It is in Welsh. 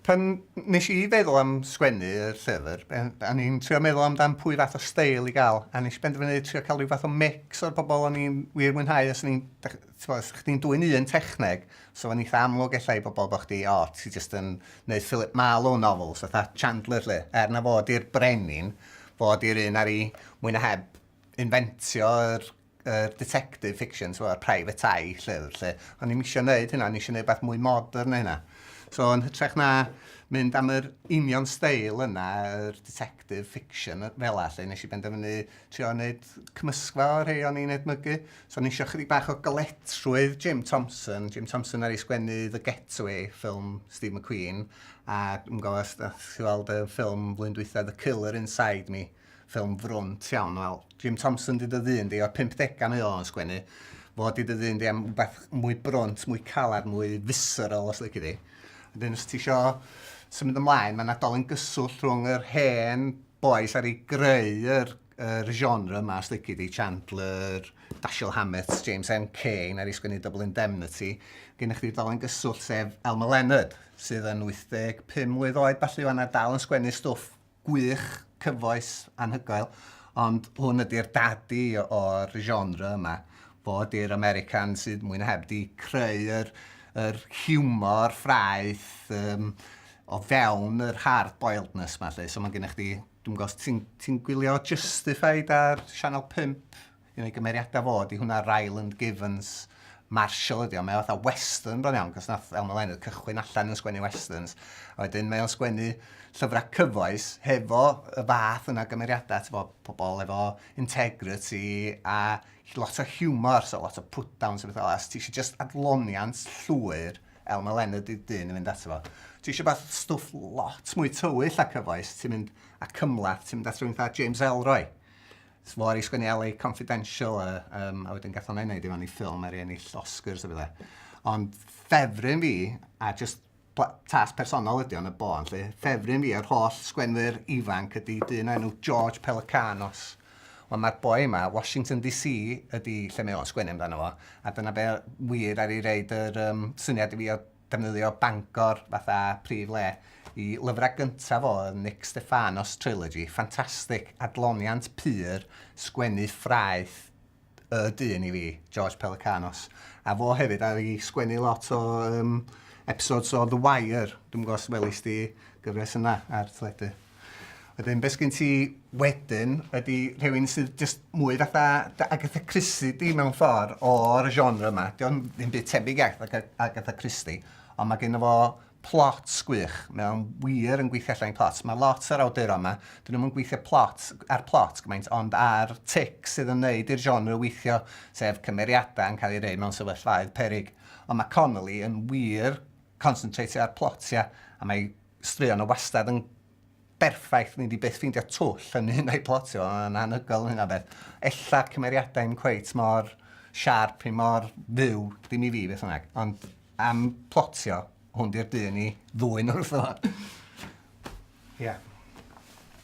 Pan nes i feddwl am sgwennu y llyfr, a ni'n trio meddwl amdan pwy fath o steil i gael, a nes i benderfynu trio cael rhyw fath o mix o'r bobl o'n i'n wir mwynhau, os ni'n, ti'n os chdi'n dwy'n un techneg, so fo'n eitha amlwg ella i bobl bod chdi, o, ti jyst yn neud Philip Marlowe novels, fatha Chandler lle, er na fod i'r brenin, fod i'r un ar i mwy na heb inventio yr uh, detective fiction, so, private eye, llyfr, lle. Ond ni'n eisiau gwneud hynna, ni'n eisiau gwneud beth mwy modern na hynna. So, yn hytrach na mynd am yr union steil yna, yr detective fiction fel all, lle nes i benderfynu trio wneud cymysgfa o rhai o'n i'n edmygu. So, nes i chydig bach o goletrwydd Jim Thompson. Jim Thompson ar ei sgwennu The Getaway, ffilm Steve McQueen, a dwi'n gofio, chi'n gweld y ffilm flwyddyn dwytha, The Killer Inside Me, ffilm frwnt iawn, wel, Jim Thompson di dy ddyn di, o'r 50au mae o'n sgwennu, fod di dy ddyn di am beth mwy brwnt, mwy caled, mwy visceral os lyci di. Dyn, os ti isio symud ymlaen, mae'n adol yn gyswllt rhwng yr hen boes ar ei greu yr, yr genre yma, os lyci di, Chandler, Dashiell Hammett, James M. Cain, ar ei sgwennu Double Indemnity. Gynna chdi dol yn gyswllt sef Elmer Leonard, sydd yn 85 mlynedd oed, falle yna dal yn sgwennu stwff gwych, cyfoes, anhygoel, ond hwn ydy'r dadi o'r genre yma, fo ydy'r American sydd mwy na heb di creu yr, yr humor ffraeth um, o fewn yr hard boiledness ma lle, so mae gennych chi, dwi'n gwybod, ti'n ti gwylio Justified ar Channel 5? un o'i gymeriadau fo, di hwnna Ryland Givens Marshall ydi o, mae o fatha western bron iawn, cos nath Elmo Leonard cychwyn allan yn sgwennu westerns, a wedyn mae o'n sgwennu llyfrau cyfoes hefo y fath yna gymeriadau, ti'n bod, pobl efo integrity a lot o humor, so lot o put-downs a bethau, os ti eisiau just adloniant llwyr, Elmo Leonard ydi dyn yn mynd ato fo. Ti eisiau beth stwff lot mwy tywyll a cyfoes, ti'n mynd a cymlath, ti'n mynd at rhywun fatha James Elroy. Sblo ar ei sgwennu LA Confidential a, um, a wedyn gath o'n ei wneud i fan i ffilm ar ei ennill Oscars a fydde. Ond ffefryn fi, a just tas personol ydy o'n y bon, lle ffefryn fi o'r holl sgwenwyr ifanc ydy dyn enw George Pelicanos. Wel, mae'r boi yma, Washington DC ydy lle mae o'n sgwennu amdano fo, a dyna be wir ar ei reid yr um, syniad i fi o defnyddio Bangor fatha prif le. Y lyfrau gyntaf o oedd Nick Stefanos Trilogy, ffantastig, adloniant pur, sgwennu ffraeth y dyn i fi, George Pelecanos. A fo hefyd ar i sgwennu lot o um, episodes o The Wire, dwi'n gwybod os welis di gyfres yna ar teledu. Wedyn beth sgen ti wedyn ydy rhywun sydd jyst mwy fatha dy Agatha Christie di mewn ffordd o'r genre yma. Dio ddim byd tebyg at Agatha Christie ond mae gen fo plot gwych. Mae o'n wir yn gweithio allan plot. Mae lot o'r awduron yma, dyn nhw'n gweithio plot, ar plot gymaint ond ar tic sydd yn neud i'r genre weithio sef cymeriadau yn cael ei rei mewn sefyllfaoedd peryg. Ond mae Connolly yn wir concentrate ar plotiau a mae Straeon o wastad yn berffaith, ni 'di byth ffeindio twll yn un a'i plotio, yn anhygoel yn hynna o beth. Ella'r cymeriadau yn cweit mor siarp, i mor fyw, dim i fi beth bynnag, ond am plotio, hwn di'r dyn i ddwyn wrth o. Ia.